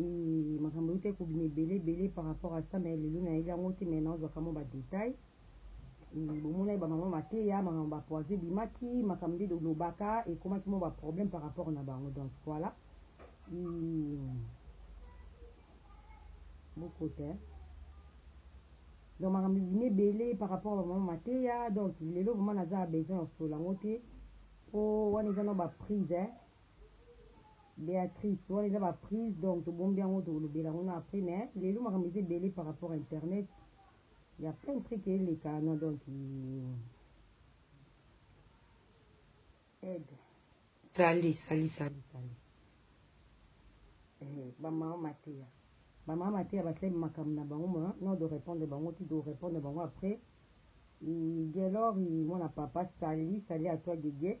Eeh makambo euta ekobima ebele ebele par rapport à ça mais lelo nayebi yango te mais nazwaka mwa ba détail eeh bomonaki bamama mateya makambo bapoise ebimaki makambo nde dolobaka ekomaki mwa ba problème par rapport na bango donc voilà eeh bokota eh? donc makambo ebimi ebele par rapport ya bamama mateya donc lelo vraimen naza ya besoin ya solo yango te mpo wana eza na baprise eh? Beatrice wana eza ba prise donc tobombi yango tokolobela yango na après mais lelo makambo eza ebele par rapport à internet ya plein de truc eleka na donc aide sali sali sali sali eh, bamama mateya bamama mateya basali makambo na bango ma no de répondre bango ti de répondre bango après gelor mwana papa sali sali atwa gege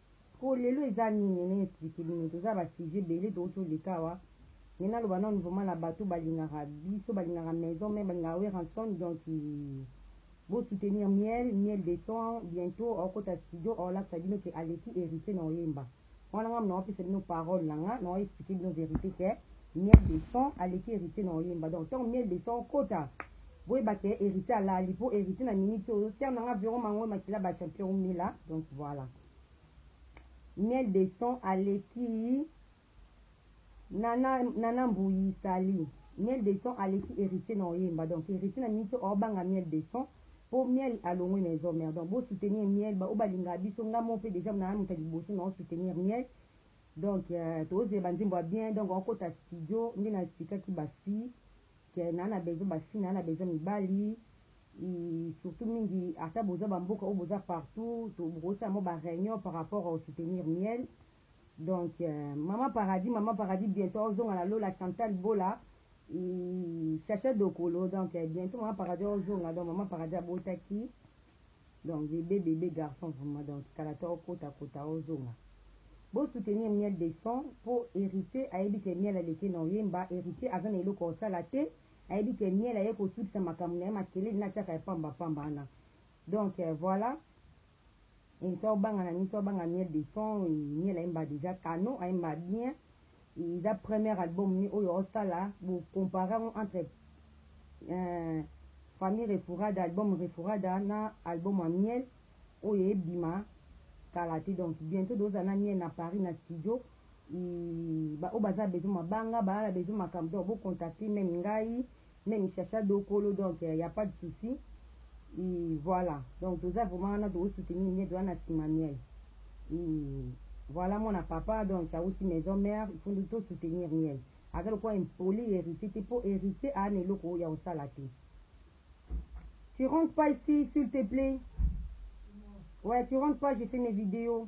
Po lelo eza nini na explique bino toza ba sujet ebele tokoki oleka awa mais naloba nanu vraiment na bato balingaka biso balingaka maison mère balingaka werrason donc bo soutenir miel miel de son bientot akokota studio akolakisa bino que aleki heritier na koyemba wana nga naopesa bino parole na nga nao explique bino verite que Miel de son aleki heritier na koyemba donc tango miel de son okota boyeba ke heritier alali po heritier na minute oyo terme nanga vero mango makila ba champion umela donc voilà miel de son aleki nana nana mbuyi sali miel de son aleki héritier na oyemba donc héritier na minute oyo banga miel de son po miel alongwe na ezo mer donc bo soutenir miel ba obalinga biso nga mo pe déjà na moto liboso na soutenir miel donc euh, tozela ba nzembo ya bien donc okota studio nde na expliquaki ba fille ke na na besoin ba fille na na besoin mibali surtout mingi ata boza ba mboka oyo boza partout bokosala mo ba réunion par rapport au soutenir miel donc euh, maman paradis maman paradis bientôt ozonga na lola chantal bola chacha dokolo donc euh, bientôt maman paradis ozonga donc maman paradis abotaki donc bebe bebe garçon vraiment donc kala to kota kota ozonga bo soutenir miel de son po héritier ayebi ke miel aleki na oyemba héritier aza na eloko osala te ayebi ke miel aye kosukisa makambo na ye makelele na tiaka ya pamba pamba wana donc euh, voilà to banga na nini to banga miel de son miel ayemba déjà canon ayemba bien Eza première album ni oyo osala bo compare yango entre euh, famille Refurada album Refurada na album ya miel oyo ebima kala te donc bientôt doza na miel na Paris na studio ba oyo baza besoin mabanga baala besoin makambo donc bocontacte meme ngai meme chacha dokolo donc il euh, y a pas de souci et voilà donc toza vraiment wana to soutenir nyeto wana si manuel et voilà mon papa donc ça aussi maison mère il faut nous tous soutenir miel aza lokola impoli héritier te mpo héritier aa na eloko oyo ya kosala te tu rentre pas ici s'il te plaît ouais tu rentre pas j'ai fait mes vidéos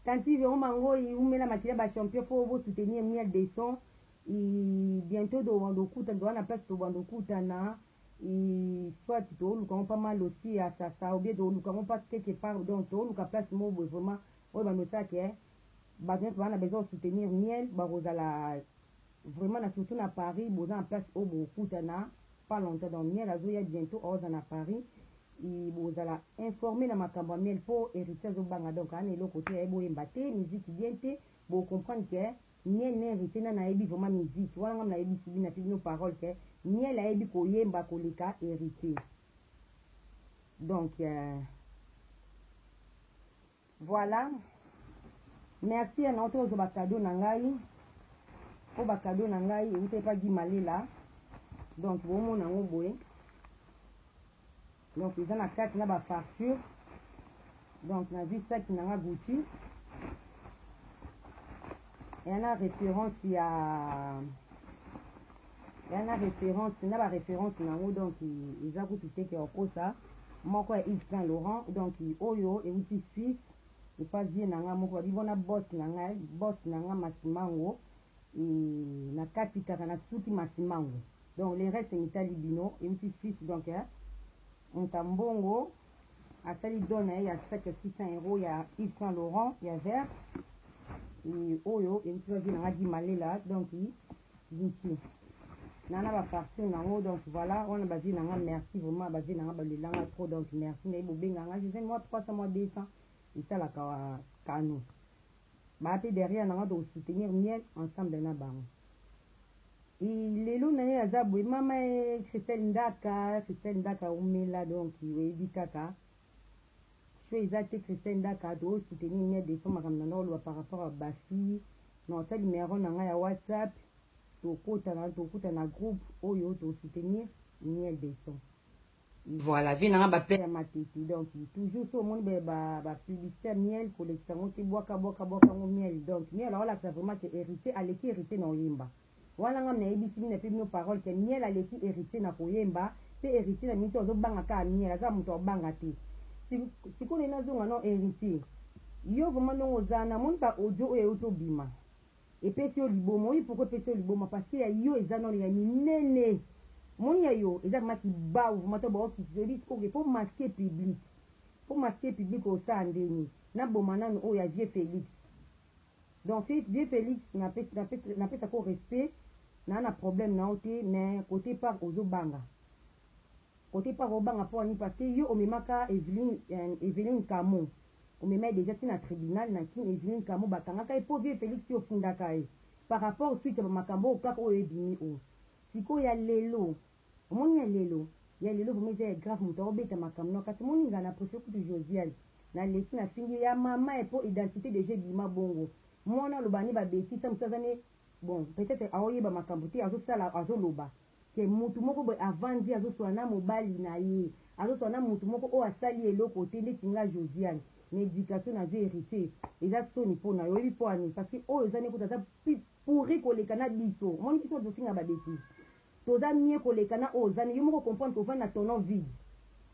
tanti vero mangoi umela makila bachampion mpo bosoutenir miel de son bientot tobanda okutana towana place tobanda okutana soit tooluka ngo mpa malosi ya sasa obie tooluka ngo mpa quelque part donc tooluka place moko boye vraiment oyo bamesaka ke bato nyonso baa na besoin osoutenir miel bakozala vraiment na surtout na paris boza na place oyo bokutana pas longtemps donc miel azoya bientot aoza na paris bozala informe na makambo ya miel mpo héritier azobanga donc ana eloko te yaye boyemba te miziki bien te bocomprendre ke Miel na heritier nani ayebi vraiment musique wana ngai nayebisi bino natie bino parole que miel ayebi koyemba koleka heritier donc euh, voilà merci ya nao tozo ba cadeau na ngai po ba cadeau na ngai euta epa gimalela donc bomona yango boye donc eza na kati na ba facture donc nazwi saki na nga gucci eya na référence ya eya na référence na ba référence na yango donc eza kutu teke ya kokosa moko ya yves saint laurent donc oyo euti suisse epa vie na nga moko babi bona bos na ngai bos na nga masimango e, na kati kaka nasuki masimango Donc le reste mitali bino ewuti fils donc eh, mutu ya mbongo asali don na ye ya sac ya 600 euros ya Yves Saint Laurent ya vert et oyo ewuti ba vie na nga Gimalela donc Gucci nana ba parfum nango donc voilà wana ba vie na nga merci vraiment ba vie na nga balela nga trop donc merci nayebi bobenga nga je moi 300 moi 200 esalaka kano Ba pe derrière nanga toko soutenir miel ensemble na bango. Et lelo naye aza boye mama ee Christelle Ndaka Christelle Ndaka umela donc oyebi kaka show eza te Christelle Ndaka to soutenir miel de son makambo nanga oloba par rapport à ba fille na ota numero nanga ya WhatsApp tokota na tokuta na groupe oyo to soutenir miel de son. Voilà, vie nanga ba père matete donc toujours so mon ba ba publicité miel ko lekisa ngo ti bwaka bwaka bwaka ngo miel donc miel wala ça vraiment que héritier aleki héritier na oyemba. Wana nga na ebisi mina pe bino parole que miel aleki héritier na koyemba pe héritier na mito azo banga ka miel aza muto abanga te. Sikoyo na zonga non héritier. Yo vraiment ndongo zana mon ba audio oyo yo to bima. Epesi yo liboma oyebi pourquoi epesi yo liboma parce que ya yo eza nanu ya minene omoni ya yo eza vraiment kibawu vraiment to bao kitisa oyebi sikoyo ke po masque public po masque public osala ndeni na boma nanu oyo ya vieux Felix donc vieux Felix na pesi na pesi na pesa ko respect na na problème na ote mais kote par ozo banga kote par obanga po ani parce que yo omemaka Evelyn euh, Evelyn Kamo Omema ye dejà ti na tribunal na kin Eveline Kamu ba kangaka ye po vieux Felix yo ofundaka ye par rapport suite ya ba makambo oyo kaka oyo ebimi oyo sikoyo ya lelo omoni ya lelo ya lelo vraiment eza ya grave mutu ako beta makambo na yo kasi omoni nga na prefere kutu Josiane na leki na fingi ye ya maman eh po identite dejà ebima bongo muana aloba ne ba betise mutu aza ne bon peut etre azo yeba makambo te azo sala azo loba ke mutu moko boye avandi azoswana na mobali na ye azoswana na mutu moko oyo asali eloko te ndeti nga Josiane na education nazwi heritier eza soni mpo na yo oyebi mpo ani parce que oyo ozani kutu aza pourri koleka na biso omoni biso tozofinga ba betise toza mie koleka na oyo ozani yo moko comprendre kovanda na tonon vide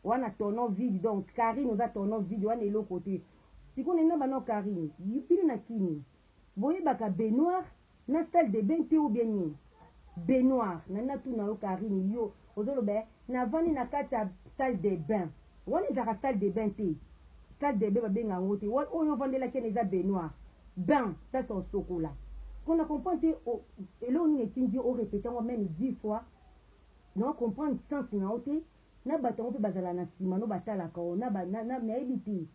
wana tonon vide donc Karine oza tonon vide wana eloko te sikoyo nini na bana Karine bino na kini Boyebaka baignoire na salle de bain te ou bien nini? Baignoire na natu na yo Carine yo ozo loba eh na vandi na kati ya salle de bain wana ezalaka salle de bain te salle de bain ba benga yango te wana oyo ofandelaki wana eza baignoire bain place ya osokola po na comprendre te oh, eloko nini etindi yo o repete yango meme 10 fois na comprendre sens na yo te na bato yango mpe bazala na nsima no batalaka yo na, na, na, nayebi te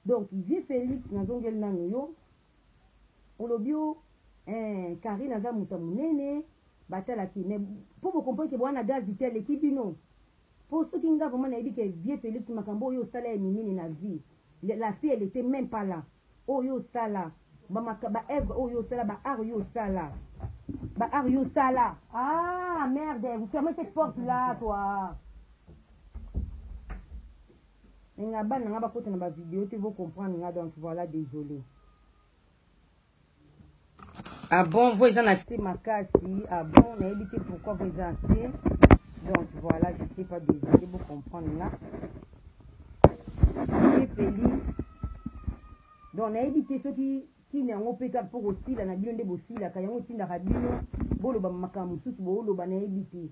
Donc vieux Felix nazongeli nanu yo olobi o eh, Karine aza moto munene batalaki mais po bocomprendre ke bwana gaz te aleki bino po soki nga vraiment nayebi ke vieux Felix makambo oyo osala ya minene na vie la fille elle était même pas là oyo osala baœuvre oyo osala baart oyo osala baart oyo osala ah merde vous fermez cette porte là toi Nga bana nga bakota na ba video te bo comprendre nga donc voilà désolé. Ah bon, vous êtes en assez makasi. Ah bon, on a évité pourquoi vous êtes assez. Donc voilà, je sais pas désolé, vous comprenez là. Donc on a évité ceux qui ntina yango mpe kaka mpo kosila na bino nde bosilaka yango etindaka bino boloba makambo mosusu booloba nayebi te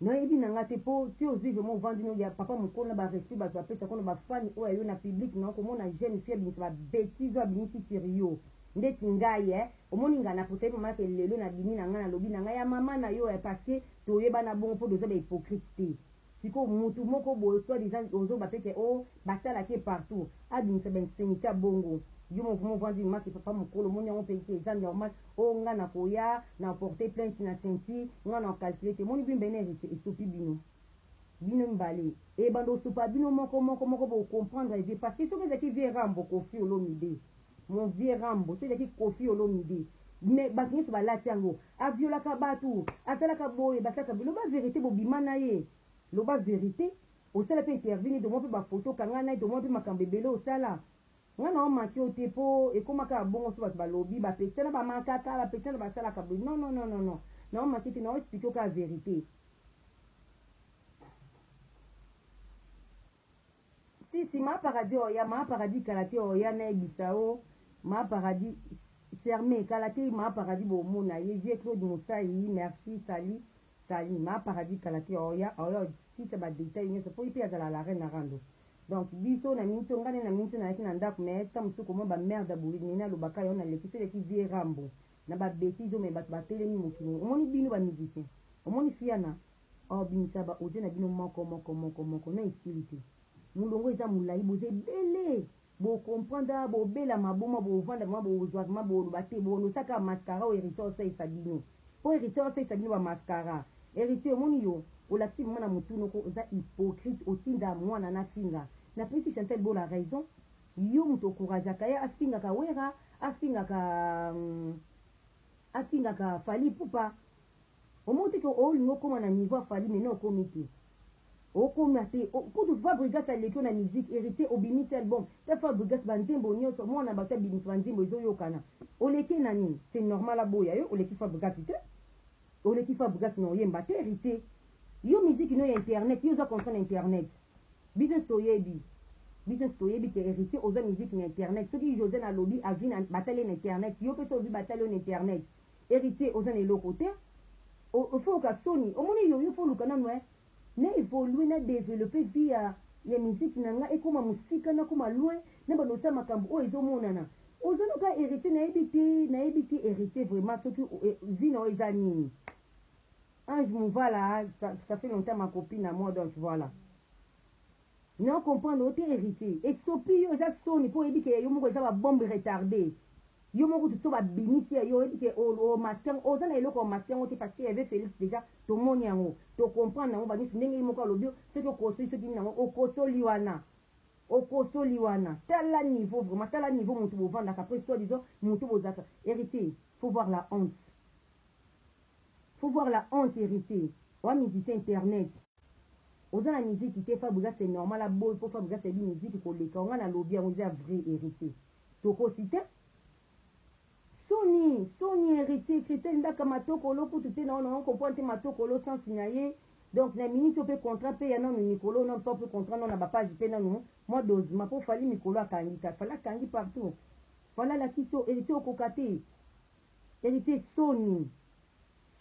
Nayebi na nga te po ti ozui vraiment ovandi no ya papa mukolo na ba respect batu apesa ko na ba fan oyo ya yo na public na yo komona jeune fille abimisa ba betise oyo abimisi sur yo ndeti ngai eh omoni nga na potaye mama ke lelo na bimi na nga na lobi na nga ya mama na yo eh parce que toyebana bongo po toza ba hypocrite te sikoyo mutu moko boye soit disant ozo ba pe ke oh ba talaka ye partout abimisa ba instinite ya bongo yo mo vraiment ovandi mama ke papa mukolo omoni yango pe ke eza normal Oh nga na koya na porte plainte na sainty nga na calcule te moni bino bene heritier esopi bino bino mibale ebanda osopa bino moko moko moko bo comprendre vie parce que soki ezalaki vie rambo kofi olomide mon vieux rambo soki ezalaki kofi olomide mais bato nyonso balati yango aviolaka bato asalaka boye basalaka boye loba verité bobima na ye loba verité osala mpe interview nini tomwa mpe bafoto kanga na ye tomwa mpe makambo ebele osala Nga nao manque yo te po ekoma kaka bongo so batu balobi ba petit na ba mankaka ba petit na ba salaka boye non non non non non nao manque te nao explique yo kaka verite si si ma paradis oya ma paradis kala te oya na ebisa yo ma paradis serme kala te ma paradis bo mona ye vieux Claude Musayi merci salut Salut ma paradis kalaki oya oya site ba detail nyoso po ipe azala la reine rando donc biso na minto nga ne na minto na yaki na ndaku mais ta musuku mwa ba merde ya boye nene alobaka yo na leki se leki vie rambo na ba betise oyo mais batu ba telemi mokili omoni bino ba musicien omoni fiana oh bimisa ba audio na bino moko moko moko moko na esili te mulongo eza mulayi boza ebele Bo comprendre kaka bo bela maboma bo vanda vraiment bo zua vraiment bo loba te bo losa kaka mascara oyo heritier oyo asalisa bino po heritier oyo asalisa bino ba mascara heritier omoni yo olakisi vraiment na mutu noko oza hypocrite otinda muana na finga na pesi Chantal bola raison yo mutu ocouragaka ye afingaka wera afingaka hum, afingaka fally ipupa Omoni te ke olingi okoma na niveau ya Fally mais non okomi te. Okoma te. Kutu Fabrigas aleki yo na musique, Heritier obimisi album, ta Fabrigas ba nzembo nionso muana batu abimisa ba nzembo ezo yokana. Oleki ye na nini? C'est normal aboya yo, oleki Fabrigas te. Oleki Fabrigas mais oyemba te Heritier. Yo musique no ya internet, yo oza conscient na internet. Biso nionso toyebi. Biso nionso toyebi ke Heritier oza musique na internet. Soki Josiane alobi avina batali ye na internet, yo pe soki olobi batali yo na internet. Heritier oza na eloko te ofa oka soni omoni yo yo fo luka nanu eh na evolue na developpe vie ya ya musique na nga ekoma musika na koma loin na banda osa makambu oyo ezo monana oza no ka heritier na yebi te na yebi te heritier vraiment soki vie na yo eza nini Ange Mouvala ça, ça fait longtemps ma copine à moi donc voilà Non comprendre yo te heritier esopi yo eza soni po oyebi ke ya yo moko eza ba bombe retarde yo moko kutu so ba bimisi ya yo oyebi ke o masque yango oza na eloko o masque yango te parce que y'avait Felix dejà to moni yango to comprendre nango ba nionso ndenge ye moko alobi yo soki okosoli soki nini nango okosoli wana okosoli wana tala niveau vraiment tala niveau mutu bo vandaka après soit disant mutu bo zalaka heritier faut voir la honte faut voir la honte heritier wa musicien internet oza na miziki te fabrigas c'est normal aboyi mpo fabrigas ayebi miziki koleka yo ngai nalobi yango eza vrai héritier tokosi te soni soni héritier kritel ndaka matokolo kutu te na ona okomprendre te matokolo sensi na ye donc na miniti oyo mpe contrat mpe ya nano mikolo nano mpe contrat nano na bapage mpe nano mwa dosema mpo fali mikolo akangi kaka fali akangi partout fali alakisi héritier okoka te Heritier soni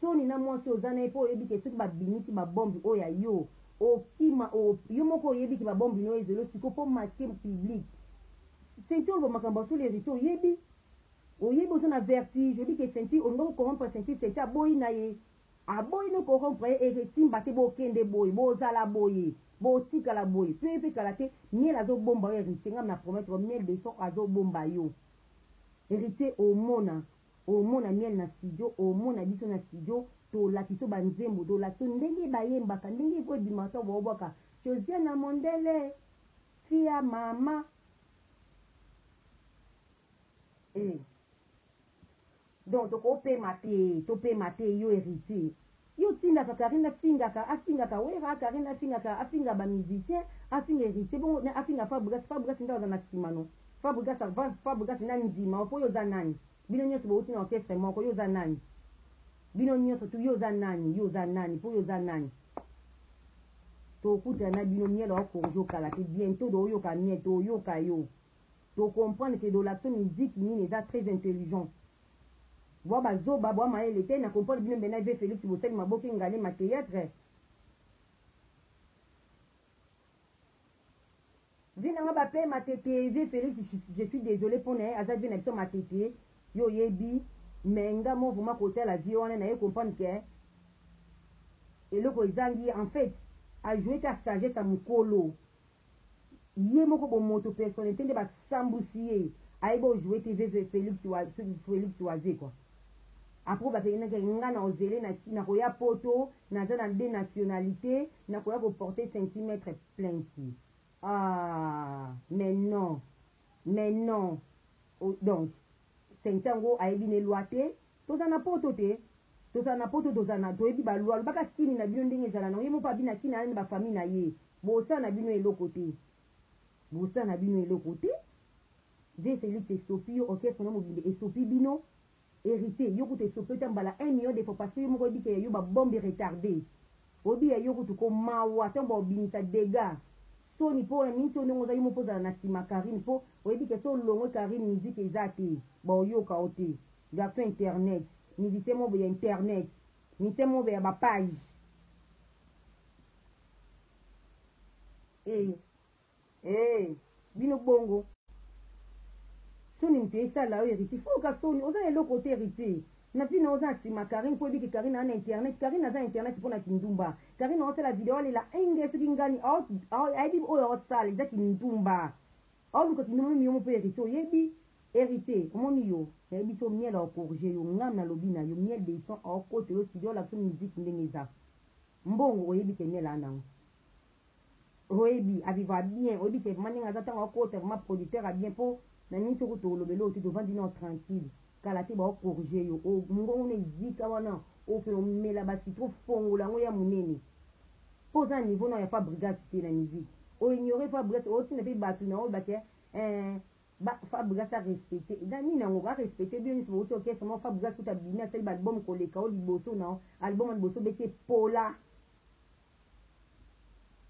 soni na mwasi oza naye po oyebi ke soki ba bimisi ba bombe oyo ya yo okima yo moko oyebi ke ba bombe no ezo yo sikoyo po masque public ceinture oloba makambo ya solo heritier oyebi oyebi oza na vertige oyebi ke ceinture olinga ko corrompre ceinture ceinture aboyi naye aboyi no corrompre ye et esimba te bokende boye bozala boye botikala boye pe pe kala te miel azo bomba yo heritier nga na promettre yo miel de son azo bomba yo Heritier omona omona miel na studio omona biso na studio tolakiso ba nzembo tolakiso ndenge bayembaka ndenge il faut ebima to bobwaka Josiana Mondele fia mama eh Donc toko pema te topema te yo heritier yo otindaka carine afingaka afingaka werra carine afingaka afinga ba musicien afinga heritier bongo na afinga fabrigas fabrigas nde aza na sima no fabrigas fabrigas na ndima yo po yo oza nani bino nionso bowuti na orchestre moko yo oza nani bino nionso tu yo oza nani yo oza nani po yo oza nani tokutana na bino miel aokorjo kala te bientôt dooyoka miel toyoka yo To comprendre que Dolakson musique nini eza très intelligent. Bwa ba zoba bwa mayele te na comprendre bino mbe na vieux Felix bosali maboke ingale ma theatre. Vie na nga ba pe matete vieux Felix je suis désolé pona ye aza vie na biso matete yo yebi mais nga mo vraiment kotala vie wana na ye comprendre que eloko ezangi en fait a jouer ka sagesse ya mukolo Ye moko bomoto personnalite nde ba sambusi ye ayebi o jouer te veve Felix wa Felix wazekwa après ba pekina ke nga na ozele na na koya poto naza na deux nationalite na koya ko porter centimetre plainte ah mais non mais non donc Sainthy yango ayebi ne loi te tozala na poto te tozala na poto tozala na toyebi ba loi lobaka kini na bino ndenge ezala nango ye moko abi na kini aye na ba famille na ye bosa na bino eloko te bosa na bino eloko te vieux Felix esopi yo orchestre no mobimba esopi bino heritier yo kutu esopi yo ta mbala un million de fois parce que yo moko oyebi ke ya yo ba bombe retarde oyebi ya yo kutu ko mawa tango bao bimisa degat Soni po na minso ndenge oza yo moko ozala na sima Carine po oyebi ke so olongwe Carine musique eza te bao yoka yo te garçon internet musicien moko boye ya internet musicien moko boye ya ba page eh eh bino bongo soni moto esala yo héritier foka soni oza na eloko te héritier na ntina oza na nsima karine mpo oyebiki karine aza na internet karine aza na internet mpo na kindumba Carine osala video alela enge soki ngani ayebi oyo osala eza kindumba aoluka kindumba mimi yomo mpe heritier oyebi heritier omoni yo nayebi so miel aokorge yo ngam nalobi na yo miel deison aokota yo studio olakisa musique ndenge eza mbongo oyebi ke miel anango Oyebi a vivra bien, oyebi te vraiment ndenge aza tango akota vraiment producteur ya bien po na minute oyo kutu olobela oyo te tovandi nao tranquille kala te bao corriger yo o mungongo na ezika wana okende omela ba citron fongola yango eya munene po oza na niveau nao ya Fabregas te na musique o ignorer Fabregas otinda pe batu na oyo bake eh, ba Fabregas a respecter na nini yango a respecter bino nyoso bouti orchestre moko Fabregas kutu abimi asali ba album koleka o liboso nao album ya liboso bete pola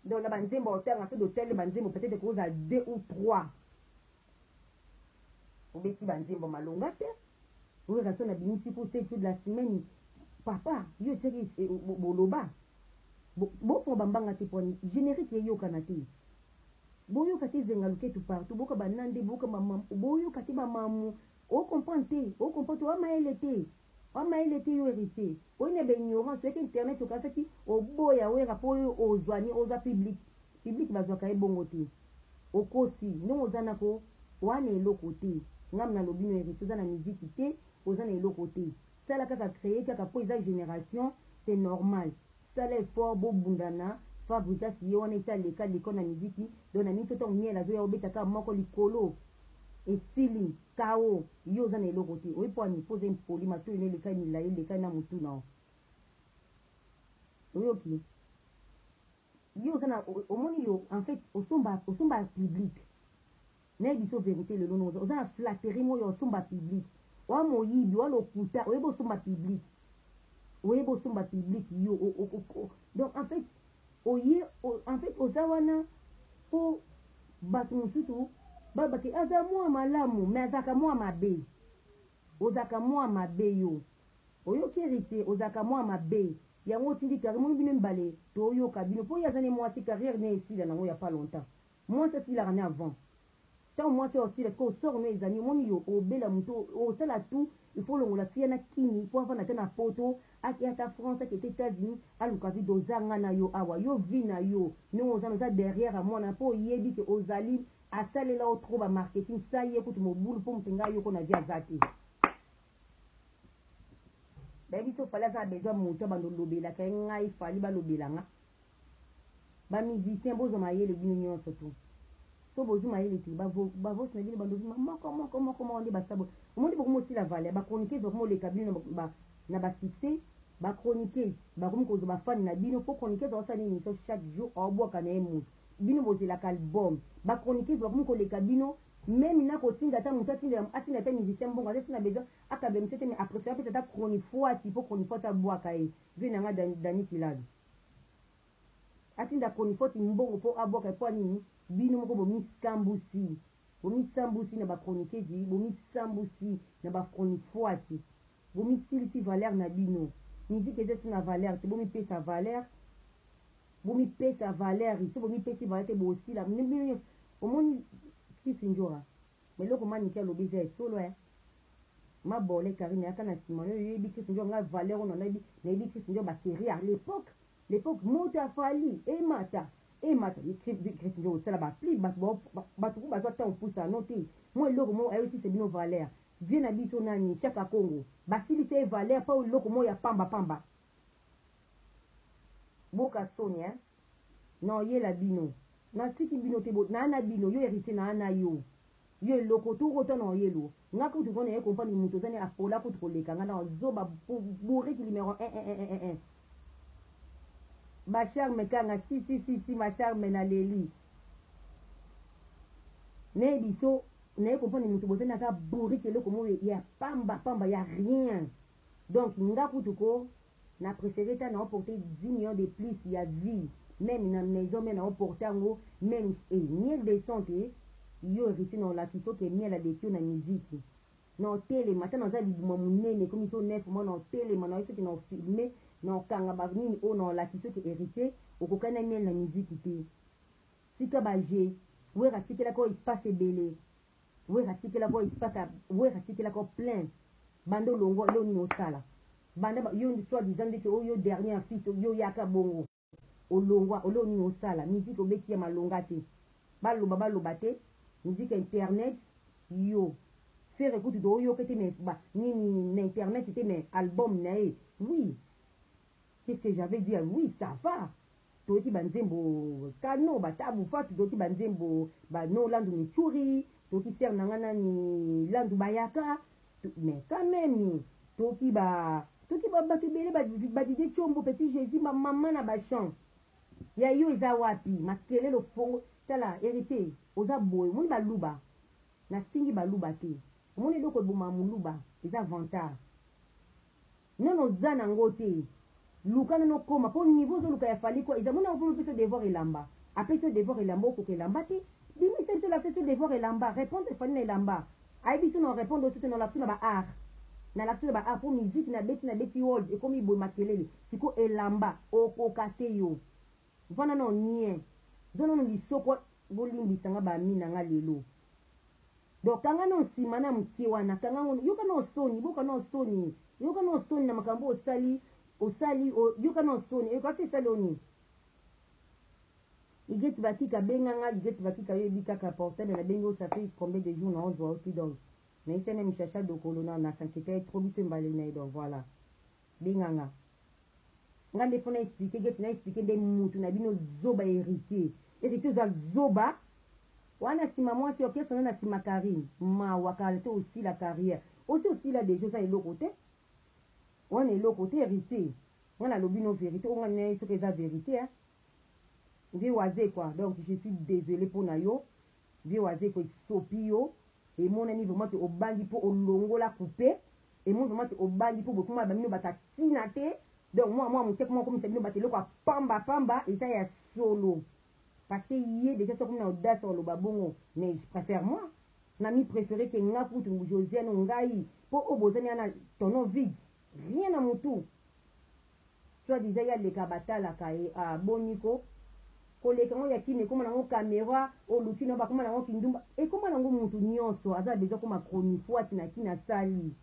Donc na banzembo otanga soki otali banzembo peut-être koza deux ou trois obeti banzembo malonga te oyo rason na bimisi ko te jour de la semaine papa yo otiaki eh, boloba bofunga bambanga te pwani générique eyokana te boyoka te ezenga luketu partout boyoka banande boyoka bamamu boyoka te bamamu ocomprendre te ocomprendre te wamayele te Wa mayele te yo heritier. Oyina ba ignorance soki internet okasaki oboya wera po yo ozwa ni ozwa public public bazwaka ye bongo te okosi ndenge oza nako oa na eloko te ngam na lobi no heritier oza na musique te oza na eloko te sala kaka cree kaka po eza generation c'est normal Sala effort bo bundana. Fabrigas ye wana esi aleka leka na miziki donc na miso tango miel azoya obeta kaka moko likolo esili kao yo oza na eloko te oyebi po ani po oza impoli matoyi na eleka milayi eleka na mutu na yo oyoki yo oza na omoni yo en fait osomba osomba public Naye biso verite lelo no oza na flatterie moyo ya osomba public wa moyibi wa lokuta oyebi osomba public oyebi osomba public yo o, o, o, donc en fait oye o, en fait oza wana po bato mosusu babake aza mwa malamu me azalaka mwa mabe ozalaka mwa mabe yo oyoki héritier ozalaka mwa mabe yango otindi carrière moni bino mibale toyoka bino mpo ye aza ne mwasi carrière ne esila nango ya pas longtemps Mwasi asilaka ne avant tango mwasi oyo asila sikoyo sort no eza nini omoni yo obela mutu osala tout il faut olongola fille na kini po avanda ata na poto ake ata France ake ata etats unis aluka vie doza nga na yo awa yo vie na yo ndenge oza na oza derrière ya mwana po oyebi ke ozali asalela yo trop ba marketing sa ye kutu mobulu po mutu nga yoko na vie aza te bayebi so fali aza na besoin mutu abanda olobelaka ye ngai fali balobela nga ba musiciens bozwa mayele bino nyonso tu so bozwi mayele te bavosi na bino bandoki moko moko moko moko nde basabo omoni bokomi osila vale ya bachroniqueuse bakomi oleka bino na basuccès bachroniqueuse bakomi kozwa bafani na bino mpo chroniqueuse aosala nini so chaque jour aobwaka na ye moto bino bozelaka album bachroniqueuse bakomi koleka bino meme na kotinda ata moto atinda ata musicien mbongo azasi na besoin akabela mosu te mais apréfère apesa ata chronifuati mpo chronifuati abwaka ye vie na ngai dani kilado Atinda chronifuati mbongo po abwaka epuis nini? Bino moko bomisambusi. Bomisambusi na ba chroniquezi, bomisambusi na ba chronifuati. Bomisilisi valeur na bino. Musique eza lisusu na valeur te. Bomipesa valeur. Bomipesa valeur. Soki bomipesi valeur te bosila. Omoni Kisindjora? Mais eloko manike alobi eza ya solo eh. Ma bole Karine yaka na sima yo yebi Christ ndio nga valeur ono nayebi nayebi Christ ndio ba série à l'époque l'époque moto ya fali emata emata Christ ndio osala ba pli bato ba bato ko bazwa temps opusa no te moi eloko mo ayo tisa bino valeur vie na biso nani shaka kongo basilisa ye valeur pa eloko mo ya pamba pamba Boka soni hein. Na oyela bino. Na tiki bino te bo na na bino yo heritier na na yo. Yo eloko tu ota na oyelo. Nga kutu ko na ye comprendre mutu oza ne apola kutu ko leka nga na zoba bourrique numero 1 1 1 1 1. Ba charme kanga si si si si ma charme na leli. Ne biso na ye comprendre mutu boza na ka bourrique eloko mo ya pamba pamba ya rien. Donc nga kutu ko na prefere ata nao porte 10 millions de plus ya vie meme na maison mais nao porte yango meme eh miel de son te yo heritier nao lakisa yo ke miel aleki yo na miziki nao telema ata naza libuma munene ekomi so 9 mois nao telema nao soki nao filme nao kanga ba nini oyo nao lakisa yo ke heritier okokani na miel na miziki te tika ba jeu wera atikelaka yo espace ebele Werra tikela ko espace ya Werra tikela ko plein banda olongwa leo nini osala banda yo ndi soit disant ndeti oyo dernier fils yo yaka bongo olongwa oleo nini osala musique obeti ya malonga te baloba baloba te musique internet yo fere kutu to oyoka te mais ba nini na internet te mais album na ye oui qu'est-ce que j'avais dit oui ça va toyoki ba nzembo kano ba tabu fatu toyoki ba nzembo ba no landu michuri toyoki sere na nga nani landu bayaka mais quand même toyoki ba toyoki bato ebele badide combo petit jésus bamama na bachamp ya yo eza wapi makelele ofongo tala hérité oza boye omoni baluba nafingi baluba te omoni eloko eboma moluba eza vantard Nanu oza na ngo te luka nanu okoma po niveau ozo luka ya Fally quoi eza mona okomi opesa yo devoir elamba apesi yo devoir elamba okoka elamba te bimisa biso lapsus to devoir elamba repondre Fally na elamba ayebi biso na orepondre yo te to na lapsus na ba art na lapsus na ba art po musique na beti na beti hold ekomi boye makelele sikoyo elamba okoka te yo Vanda na yo nien. Zwa nanu lisoko bolimbisa nga ba amis na nga lelo. Donc kanga na yo sima na mukie wana kanga ngo yoka na yo soni boka na yo soni yoka na yo soni na makambo osali osali yoka na yo soni yoka te sali oni. Igeti bakika benga nga Igeti bakika yo ebi kaka portable na bengi osa pe combien de jours na ozwa oti donc. Mais ese na mishasha dokolo na na s'inquiéter trop biso mbali na donc voilà. Benga nga. Nga nde faut na expliquer get na expliquer nde mutu na bino zoba heritier. Heritier oza zoba. Wana sima mwasi orchestre na na sima Karine. Mawa kala te osila carrière. Osi osila deja oza eloko te. Wana eloko te heritier. Nga na lobi no verite. Onga na yesu eza verite hein. Nde waze quoi. Donc je suis désolé pona yo. Vieux Wazekwa esopi yo, emonani vraiment que obangi mpo olongola kupe, emoni vraiment que obangi mpo bokoma ba bino bato ya ntina te, donc mua mua moke ekoma komisa bino bato eloko ya pamba pamba, eza ya solo parce que ye dejà soki akomi na audace ya koloba bongo, mais je prefère moi na mi preferer que nga kutu Josiane ou ngai, mpo oyo bozani wana tonneau vide, rien na mutu. Soit disant ye aleka batalaka ye ah boni ko koleka ngo ya kin ekoma nango camera oluki nango bakoma nango kindumba ekoma nango mutu nionso aza na besoin akoma chronifuati na kin asali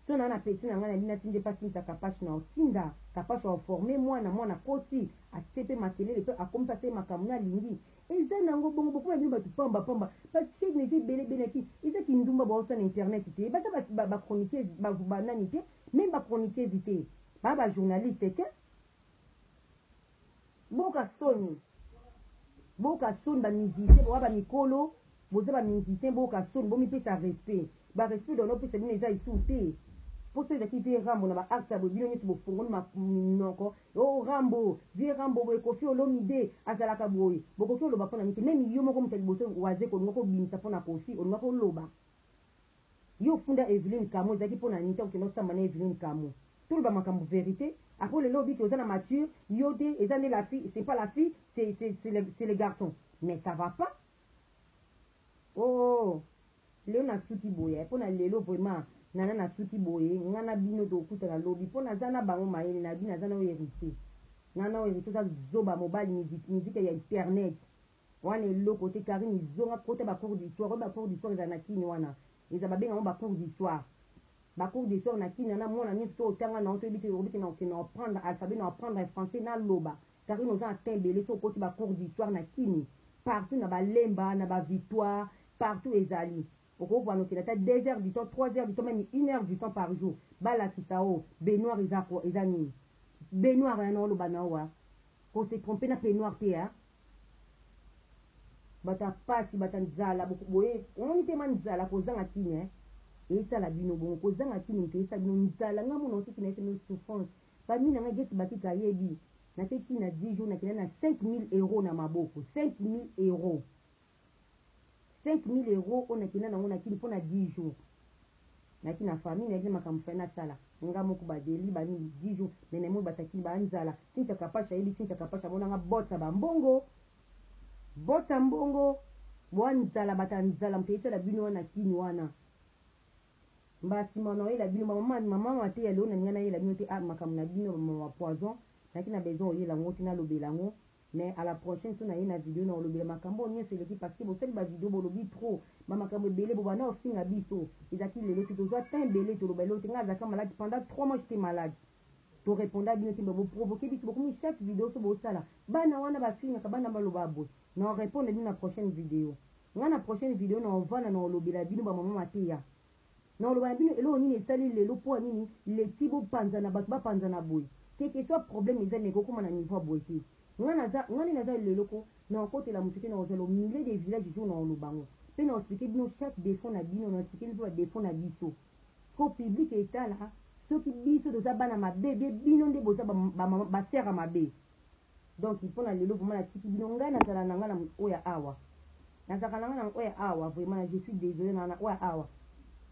so na na petit na ngai na linati nde pasi misa kapash na otinda kapash wa oforme mwana mwana koti atie pe makelele pe akomi pasi ye makambo na lingi eza nango bongo bokoma bino batu pamba pamba ba chaine eza ebele ebele na kin eza kindumba baosala na internet te baza ba chroniqueuse ba nani te Meme ba chroniqueuses te, ba ba journalistes te. Boka soni. Boka soni ba musiciens, boka ba mikolo, boza ba musiciens, boka soni, bomi pesa respect. Ba respect dono pesa bino eza isu te. Poso ezaki vie Rambo na ba actes ya bino nyoso bofongoli ma minoko. Oh Rambo, vie Rambo boye Koffi Olomide azalaka boye. Bokoki oloba pona nini te. Meme yo moko mutu ya liboso waze kolinga ko bimisa pona Koffi olingako loba. Yo ofunda Evelyne Kamu ezalaki pona nini tango okenda osamba na Evelyne Kamu toloba makambo verite après lelo obiki oza na mature yo te eza nde la fille c'est pas la fille c'est c'est le c'est le garçon mais ça va pas ooh lelo nasuki boye pona lelo vraiment nana nasuki boye nga na bino tokutana lobi po naza na bango mayele na bino naza na yo heritier nana oyo heritier oza zoba mobali musique ya internet Wana eloko te carine zonga kota ba cours d'histoire oyo ba cours d'histoire ezala na kin wana eza babenga yango ba cours d'histoire ba cours d'histoire na kin na mwana nyonso to otanga na otoyebi te obi kena okena apprendre alphabet na apprendre français na loba carine oza na temps ebele so okoti ba cours d'histoire na kini partout na balemba na ba victoire partout ezali okovana okenda ata 2 heures du temps 3 heures du temps meme 1 heure du temps par jour balakisa o benoir eza eza nini benoir yana oloba na owa ko se tromper na penoir te hein bata pasi bata nzala boye omoni te ma nzala kozanga kini eh? esala bino bongo kozanga kini moto esala bino nzala nga mona otiki na esala bino souffrance bami na nga geti bakika ayebi nateki na 10 jours nakenda na 5000 euros na maboko 5000 euros 5000 euros oyo nakenda nango na kini mpo na 10 jours naki na famille nayebi makambo fai nasala nga moko badeli bani 10 jours me naimoi batakili banzala sintia kapashi ayebi sintia kapashi amonanga bota bambongo bota mbongo bwa nzala bata nzala moto eyetala bino wana kini wana mbasima na oyela bino bamama mama mateya leo nalinga nayela bino te ah, makambo na bino bamama poison naki na besoin oyela yango te nalobela yango Mais à la prochaine soki naye na video nako lobela makambu oyo nionso eleki parce que bosali ba video bolobi trop ba makambu ebele bo banda kofinga biso ezalaki lelo te tozua temps ebele toloba eloko te nga azalaka malade pendant 3 mois j'etais malade to reponda bino te mais bo provoquer biso bokomi chaque video so bosala bana wana bafingaka bana baloba boye na repondre bino na prochaine video nga na prochaine video na ovanda na olobela bino ba maman mateya Nakoloba na bino eloko nini esali lelo mpo ya nini leti bopanzana bato bapanzana boye quel que soit problème eza mais ekokoma na niveau ya boye te nga naza nga nde naza lelo ko nakokotela moto te nakozala au milieu des villages jour nakoloba yango mpe na explique bino chaque defaut na bino na explique mpe ba defaut na biso mpo public etala soki biso toza bana mabe bie bino nde boza ba, ba, ba, ba sœur ya mabe donc mpo na lelo vraiment natiki bino ngai nazala na ngai na oyo ya awa nazalaka na ngai na oyo ya awa vraiment na je suis désolé na na oyo ya awa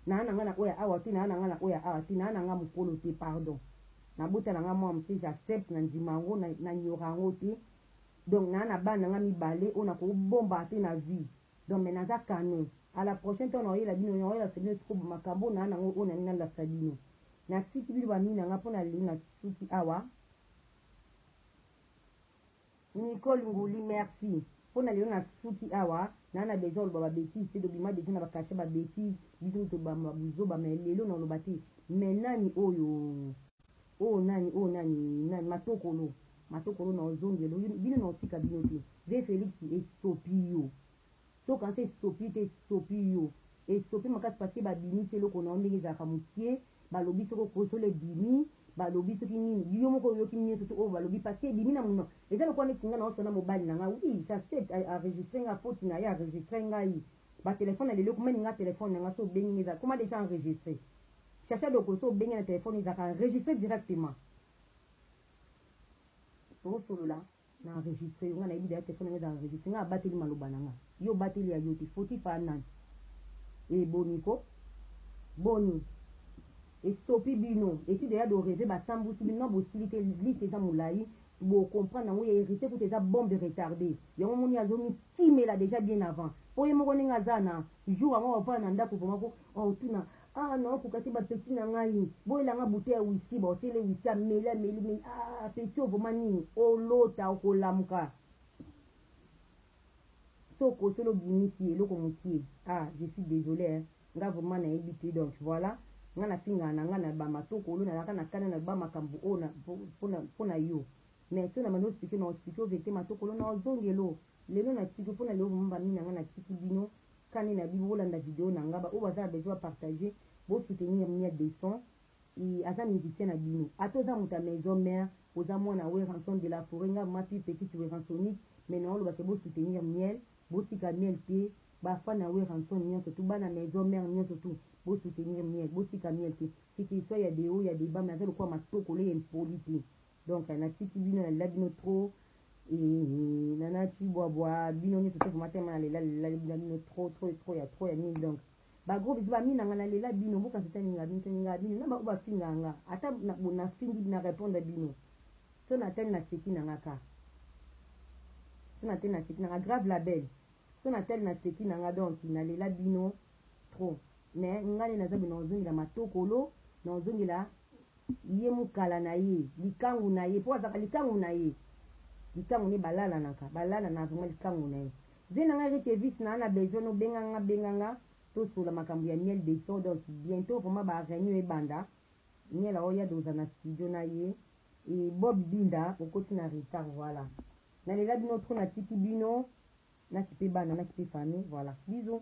naa na ngai na oyo ya awa te naa na ngai na oyo ya awa te naa na ngai mokolo te pardon nabota na ngai mwa moke j'accepte na ndima yango na nyora yango te donc naa na bana na ngai mibale oyo nakobomba te na vie donc me naza kano à la prochaine temps naoyela bino naoyelasa bino sikobo makambo naa na yango oyo nalingi nalakisa bino natiki bino bamini na ngai mpo na lelo na suki awa Nicole Nguli merci pona lelo na suki awa na na besoin oloba ba bêtise te dobima deja na ba cachet ba bêtise biso mutu tobamba buzoba mais lelo na oloba te mais nani oyo oyo oh, nani oyo oh, nani nani matokolo matokolo na ozongelo bino na osika bino te ve Felix esopi yo Soki okanisi esopi yo te, esopi yo. Esopi makasi parce que babimisi eloko na yo ndenge ezalaka mukie, balobi soki okosola ebimi, balobi soki nini, yo moko oyoki nioso tout oyo balobi parce que ebimi na munoko. Eza lokola neti nga naosa na mobali na nga, oui j'accepte a enregistre nga faute na ye a enregistre ngai. Ba telephone ya lelo eko meme nga telephone na nga soki obengi nga eza ekoma dejà enregistre. Chacha Dokolo soki obengi ye na telephone ezalaka enregistre directement. Tosolola. Na enregistre yo nga nayebi deja telephone nanga eza enregistre nga abateli maloba na nga yo obateli ya yote fautif a nani e boni ko boni estopi bino esi deja do reve basambusi bino na bosili te liste eza molayi bocomprendre yango ya hérité kuta eza bombe retardé yango moni azomikimela déjà bien avant mpo ye moko ndenge aza na jour yango aovanda na ndako vraimen ko aotuna Ah non, kukaki ba petit na ngai. Boyela nga bouteille ya whisky, ba otele whisky ameli ameli meli. Ah petit ovoma nini? Olota okolamuka. Soko solo bimisi eloko mukie. Ah, je suis désolé hein. Nga vraiment na yebi te donc voilà. Nga na finga na nga na ba matoko olo na laka na kana na ba makambu o na pona pona yo. Mais sona mano expliquer na expliquer vete matoko olo na ozongelo. Lelo na tiki pona leo vraiment ba mina nga na tiki bino. Kani na bino bolanda video na nga ba oyo baza na besoin ba partager bo soutenir mia deson i aza musicien na bino ata oza moto ya maison mère oza mwana werranson de la foret nga ma pi petite werransonique mais na oloba ke bo soutenir miel botika miel te ba fan ya werranson nionso tout bana maison mère nionso tout bo soutenir miel botika miel te ce que soit ya deo ya deba mais aza lokola matokolo ye impoli te donc natiki bino nalela bino trop eh, nana cibwabwa bino nyonso te vraimen tema nalela lela bino bino trop trop trop ya trop ya nini donc bagro biso bamina nga nalela bino mboka nso taninga bino taninga bino na baoyo bafinga nga ata nafingi na répondre bino so natani naseki na nga ka so natani naseki na nga grave label so natali naseki na nga donc nalela bino trop mais ngai nde naza bino ozongela matokolo na ozongela ye mukala na ye likangu na ye mpo azalaka likangu na ye likangu ne balalanaka balalana vraiment likangu na ye vie na ngai rite vice na ana besoin nobenga nga benga nga tosola makambo ya miel de so donc bientôt vraiment ba reunion ebanda miel aoya doza na studio na ye e bob binda okoti na retard voilà nalela bino trop natiki bino nakipe bana nakipe famille voilà bisous